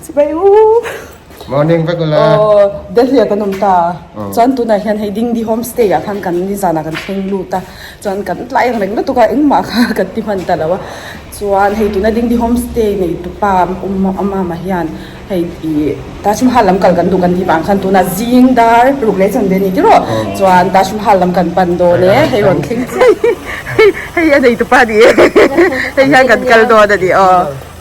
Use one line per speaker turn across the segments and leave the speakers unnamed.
Sibai uuh.
Morning vek ula. Aww Delhi-ah kan awm ta a, chuan tunah hian hei Dingdi Homestay-ah khan kan ni zanah kan thleng lut a, chuan kan tlai ang reng lutuk a, engmah kha kan ti hman
ta lo a, chuan hei tuna Dingdi Homestay neitupa awm a awma mah hian hei ih Taj Mahal lam kal kan duh kan tih vang khan tunah zing dar ruk leh chhan ve ni tih rawh, chuan Taj Mahal lam kan pan dawn e, hei rawn thleng chiah hi, hei a neitupa ni e, hei hian kan kal dawn a ni aww.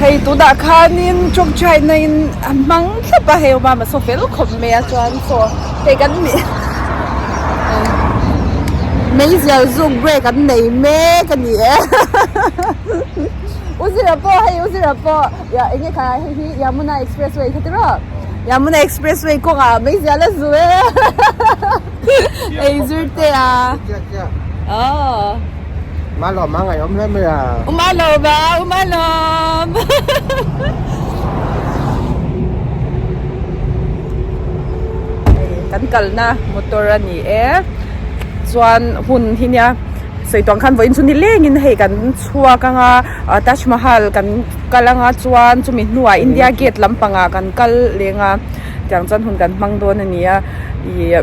Hei tunah khanin Truck China in a hmang thlap a, hei awma mahse fel khawp mai a chuan chaw hei kan ni mei zial zuk brake an nei mek a ni e U Zira pawh hei U Zira pawh ya eng nge kha hei hi Yamuna Expressway kha ti rawh Yamuna Expressway kawngah mei zial a zu e hei zirte a aww.
Um alawm a, ngaihawm hle mai a. Um alawm a,
um alawm. Kan kalna motor a ni e. Chuan hun hi nia, sawitua khan vawiin chu nilengin hei kan chhuak anga Taj Mahal kan kal anga chuan chumi hnuah India Gate lampangah kan kal leng a. Tiang chuan hun kan hmang dawn a nia. Ih.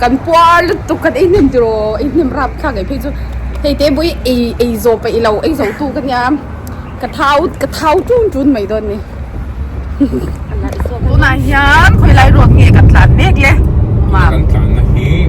kan puar lutuk kan ei hnem tiro ei hnem rap thlak ngei phei chu hei te bawih ei ei zo paih lo ei zo tu ka nia ka thau ka thau tun tun mai dawn ni tunah hian khawi lai
ruak
nge kan tlan mek le mam kan tlan na hi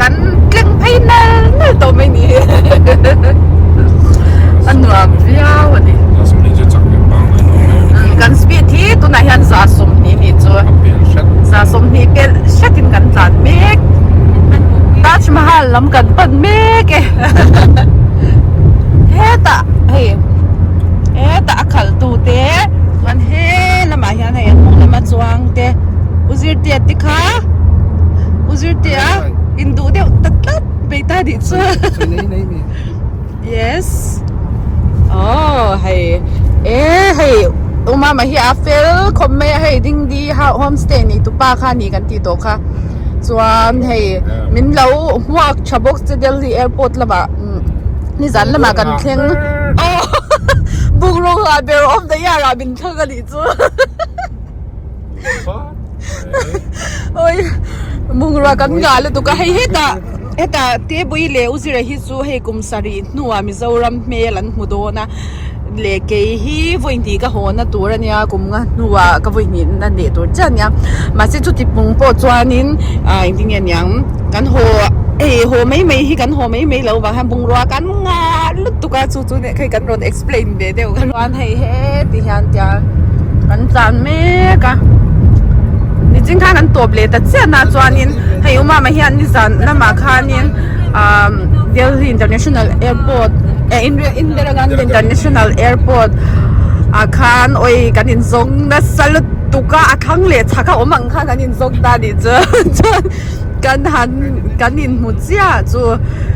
kan tlem phei nal nal tawh mai ni hi a nuam
viau a ni kan speed hi tunah hian za sawmhnih ni chu za sawmhnih pel hret in kan tlan mek
Taj Mahal lam kan pan mek e hetah hei hetah a khal tu te chuan he lamah hian hei a hnung lama chuang te u zir tia te kha u zirtir a in duh deuh ta tlat mai ta nih chuan yes oh hei e hei uma ma hi a fel khawp mai a hei ding di home stay ni tu pa kha ni kan ti tawh kha chuan hei min lo hmuak tha bawk che delhi airport lama nizan lama kan thleng oh bungraw nghah ber awm daih ah rah min thlang a nih chu oi bungrua kan ngah lutuk a hei heta heta tebawii leh u zira hi chu hei kum sarih hnua mizoram hmel an hmu dawn a leh kei hi vawi hnih ka haw na tur ania kum nga hnua ka vawi hnih na leh tur chiah ania mahse chuti pung pawh chuanin ah engtin nge niang kan haw hei haw mai mai hi kan haw mai mai lo vang hian bungrua kan ngah lutuk a chu-- chu neh khi kan rawn explain ve deuh ka hria chuan hei he ti hian tia kan chan mek a ni chin khan kan tawp leh ta chiah na chuanin hei awm ama hian ni zan lamah khanin umm delhi international airport eh indira gandhi international airport ah khan awi kan in zawng nasa lutuk a a thlang leh chak a awm ang khan kan in zawng ta nih chuan chuan kan han kan inhmu chiah chu.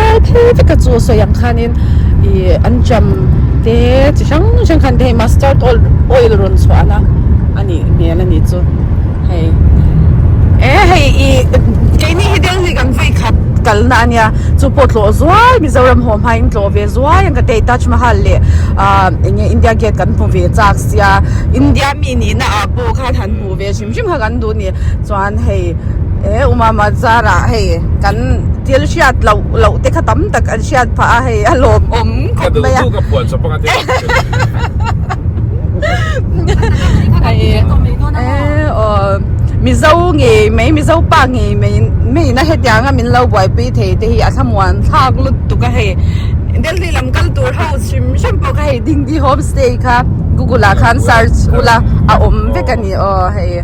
Tlai hle veka chu a sawi ang khanin i an jam te chi hrang hrang khan te hei mustard oil oil rawn chhuahna a nih hmel a ni chu hei e hei i keini hi del hi kan vawi khat kalna a nia chu pawh tlawh zual Mizoram haw hma in tlawh ve zual ang ka ti a i Taj Mahal leh a enge India Gate kan hmu ve chak sia India mi nihna ah pawh khan han hmuh ve hrim hrim kha kan duh a ni. chuan hei he uma mazar ah hei kan thil hriat loh loh te kha tam tak an hriat phah a hei a lawm awm khawp mai a mizo ngei mai mizo pa ngei mai mai na hetianga min lo buaipui thei te hi a hlamûan thlâk lut tuk a hei delhi lam kal tûr ho hrim hrim pawh ka hei dingdi home stay kha google ah khan search ula a awm vek a ni aw hei.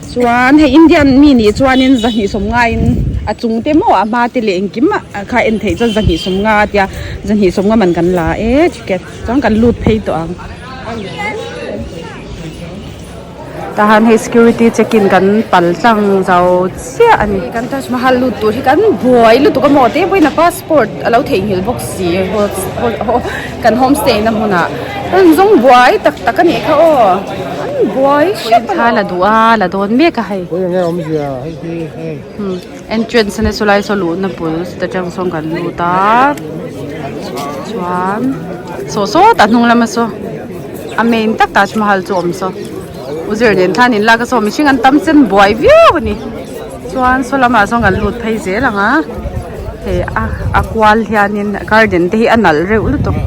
Chuan hei Indian
mi nih chuanin zahnihsawm ngaiin a chungte maw a hma te leh engkim ah kha en theih chuan zahnihsawm nga a tia zahnihsawm nga man kan la a e ticket chuan kan lut phei tawh ang tahan hei security check in kan pal tlang zau chiah a ni kan Taj Mahal lut tur hi kan buai lutuk a maw te pawhin a pass -- Court a lo theihnghilh bawk si kan home stay na hmun ah an zawng buai tak tak a nih kha aw an buai hrep a la duh a la dawn mek a hei
entrance
a ni a saw lai saw luh na bul chutah tang sawn kan lut a chuan saw sawtah hnung lama saw a main takah a awm saw. U Zirlen khan in laka saw mihring an tam chan buai viau a ni. Chuan saw lamah zawng an lut phei zel ang a. Hei a a kual hian in garden te hi a nalh reuh lutuk.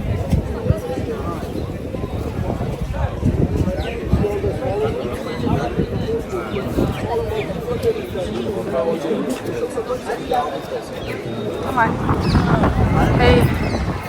Hei.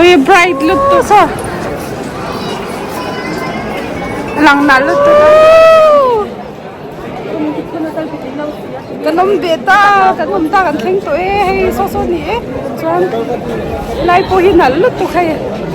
Ui bright lut tu sa. Lang na lut tu. Kan om be ta, kan om ta kan thleng tu e, hei so so ni e. Chuan lai pawh hi nal lut tu kha e.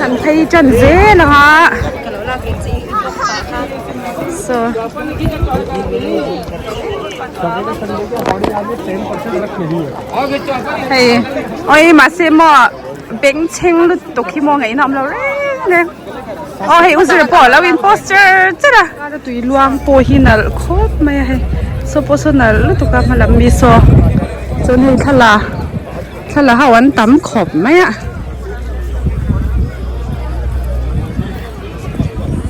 kan phei tan zel ang a so hei aw i mahse maw bengchheng lutuk hi maw ngaihna awm lo reng reng aw hei u zir pawh a lo in post cher cher a heta tui luang pawh hi nalh khawp mai a hei saw pawh saw nalh lutuk a hmalam miso chuan hei thlalak. Thla ho an tam khawp mai a.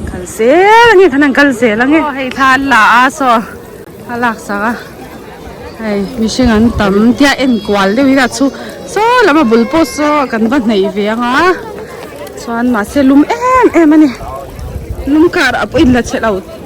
Kal zel ange khan an kal zel ange. Aw hei thla an la a saw a lak sak a. Hei mihring an tam tia enkual deuh ila chhu saw lam a bul pawh saw kan va hneih ve ang a. Chuan mahse lum em em a ni. Lum kar a pawh in la chhe lo.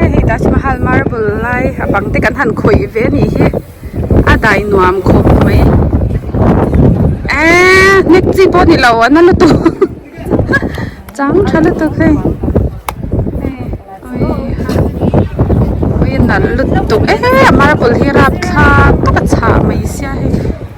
hei taj mahal marble lai a bang te kan han khawih ve a nih hi a dai nuam khawp mai eeii hnek chi pawh nilo a na lutuk chang tha lutuk hei ui a nalh lutuk eeii a marble hi a rap thlak taka chhah mai sia hei.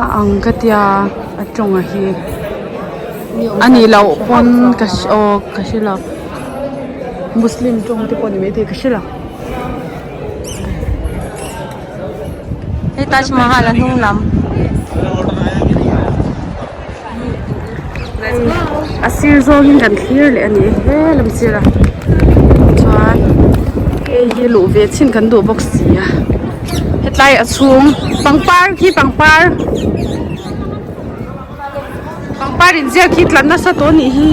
A ang ka tia
a tawng a hi a nih loh pawn ka hre aw ka hre lo muslim tawng te pawh a ni maithei ka hre lo hei
Taj Mahal a hnung lam.
a sir zawngin kan thlir leh a ni e he lam sirah chuan hei hi luh ve chin kan duh bawk si a hetlai a chhung pangpar khi pangpar pangpar inziak hi tlanna sa tawh anih hi.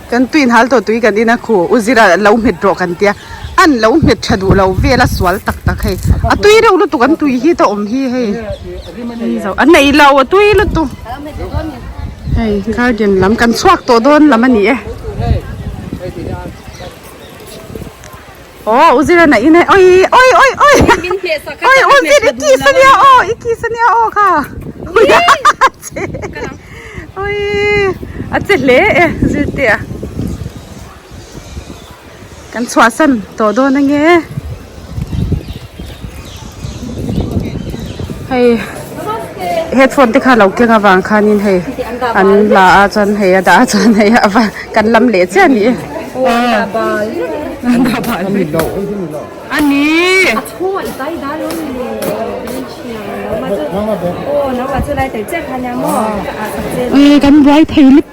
Kan tui inhal tawh tui kan ina khu u zira lo hmet rawh kan tia an
lo hmet tha duh lo vela sual tak tak hei a tui reuh lutuk an tui hi ta awm hi hei engzawh an nei lo a tui lutuk hei garden lam kan chhuak tawh dawn lam a ni e. Aw u zira na in e awi awi awi awi awi u zir i kih sa nia aw i kih sa nia aw kha awi a che hle e zirtir a kan chhuah san tawh dawn ange. Hei headphone te kha lo keng avang khan in hei an la a chuan hei a dah a chuan hei a va kan lam leh chiah a ni e kan buai phei lip.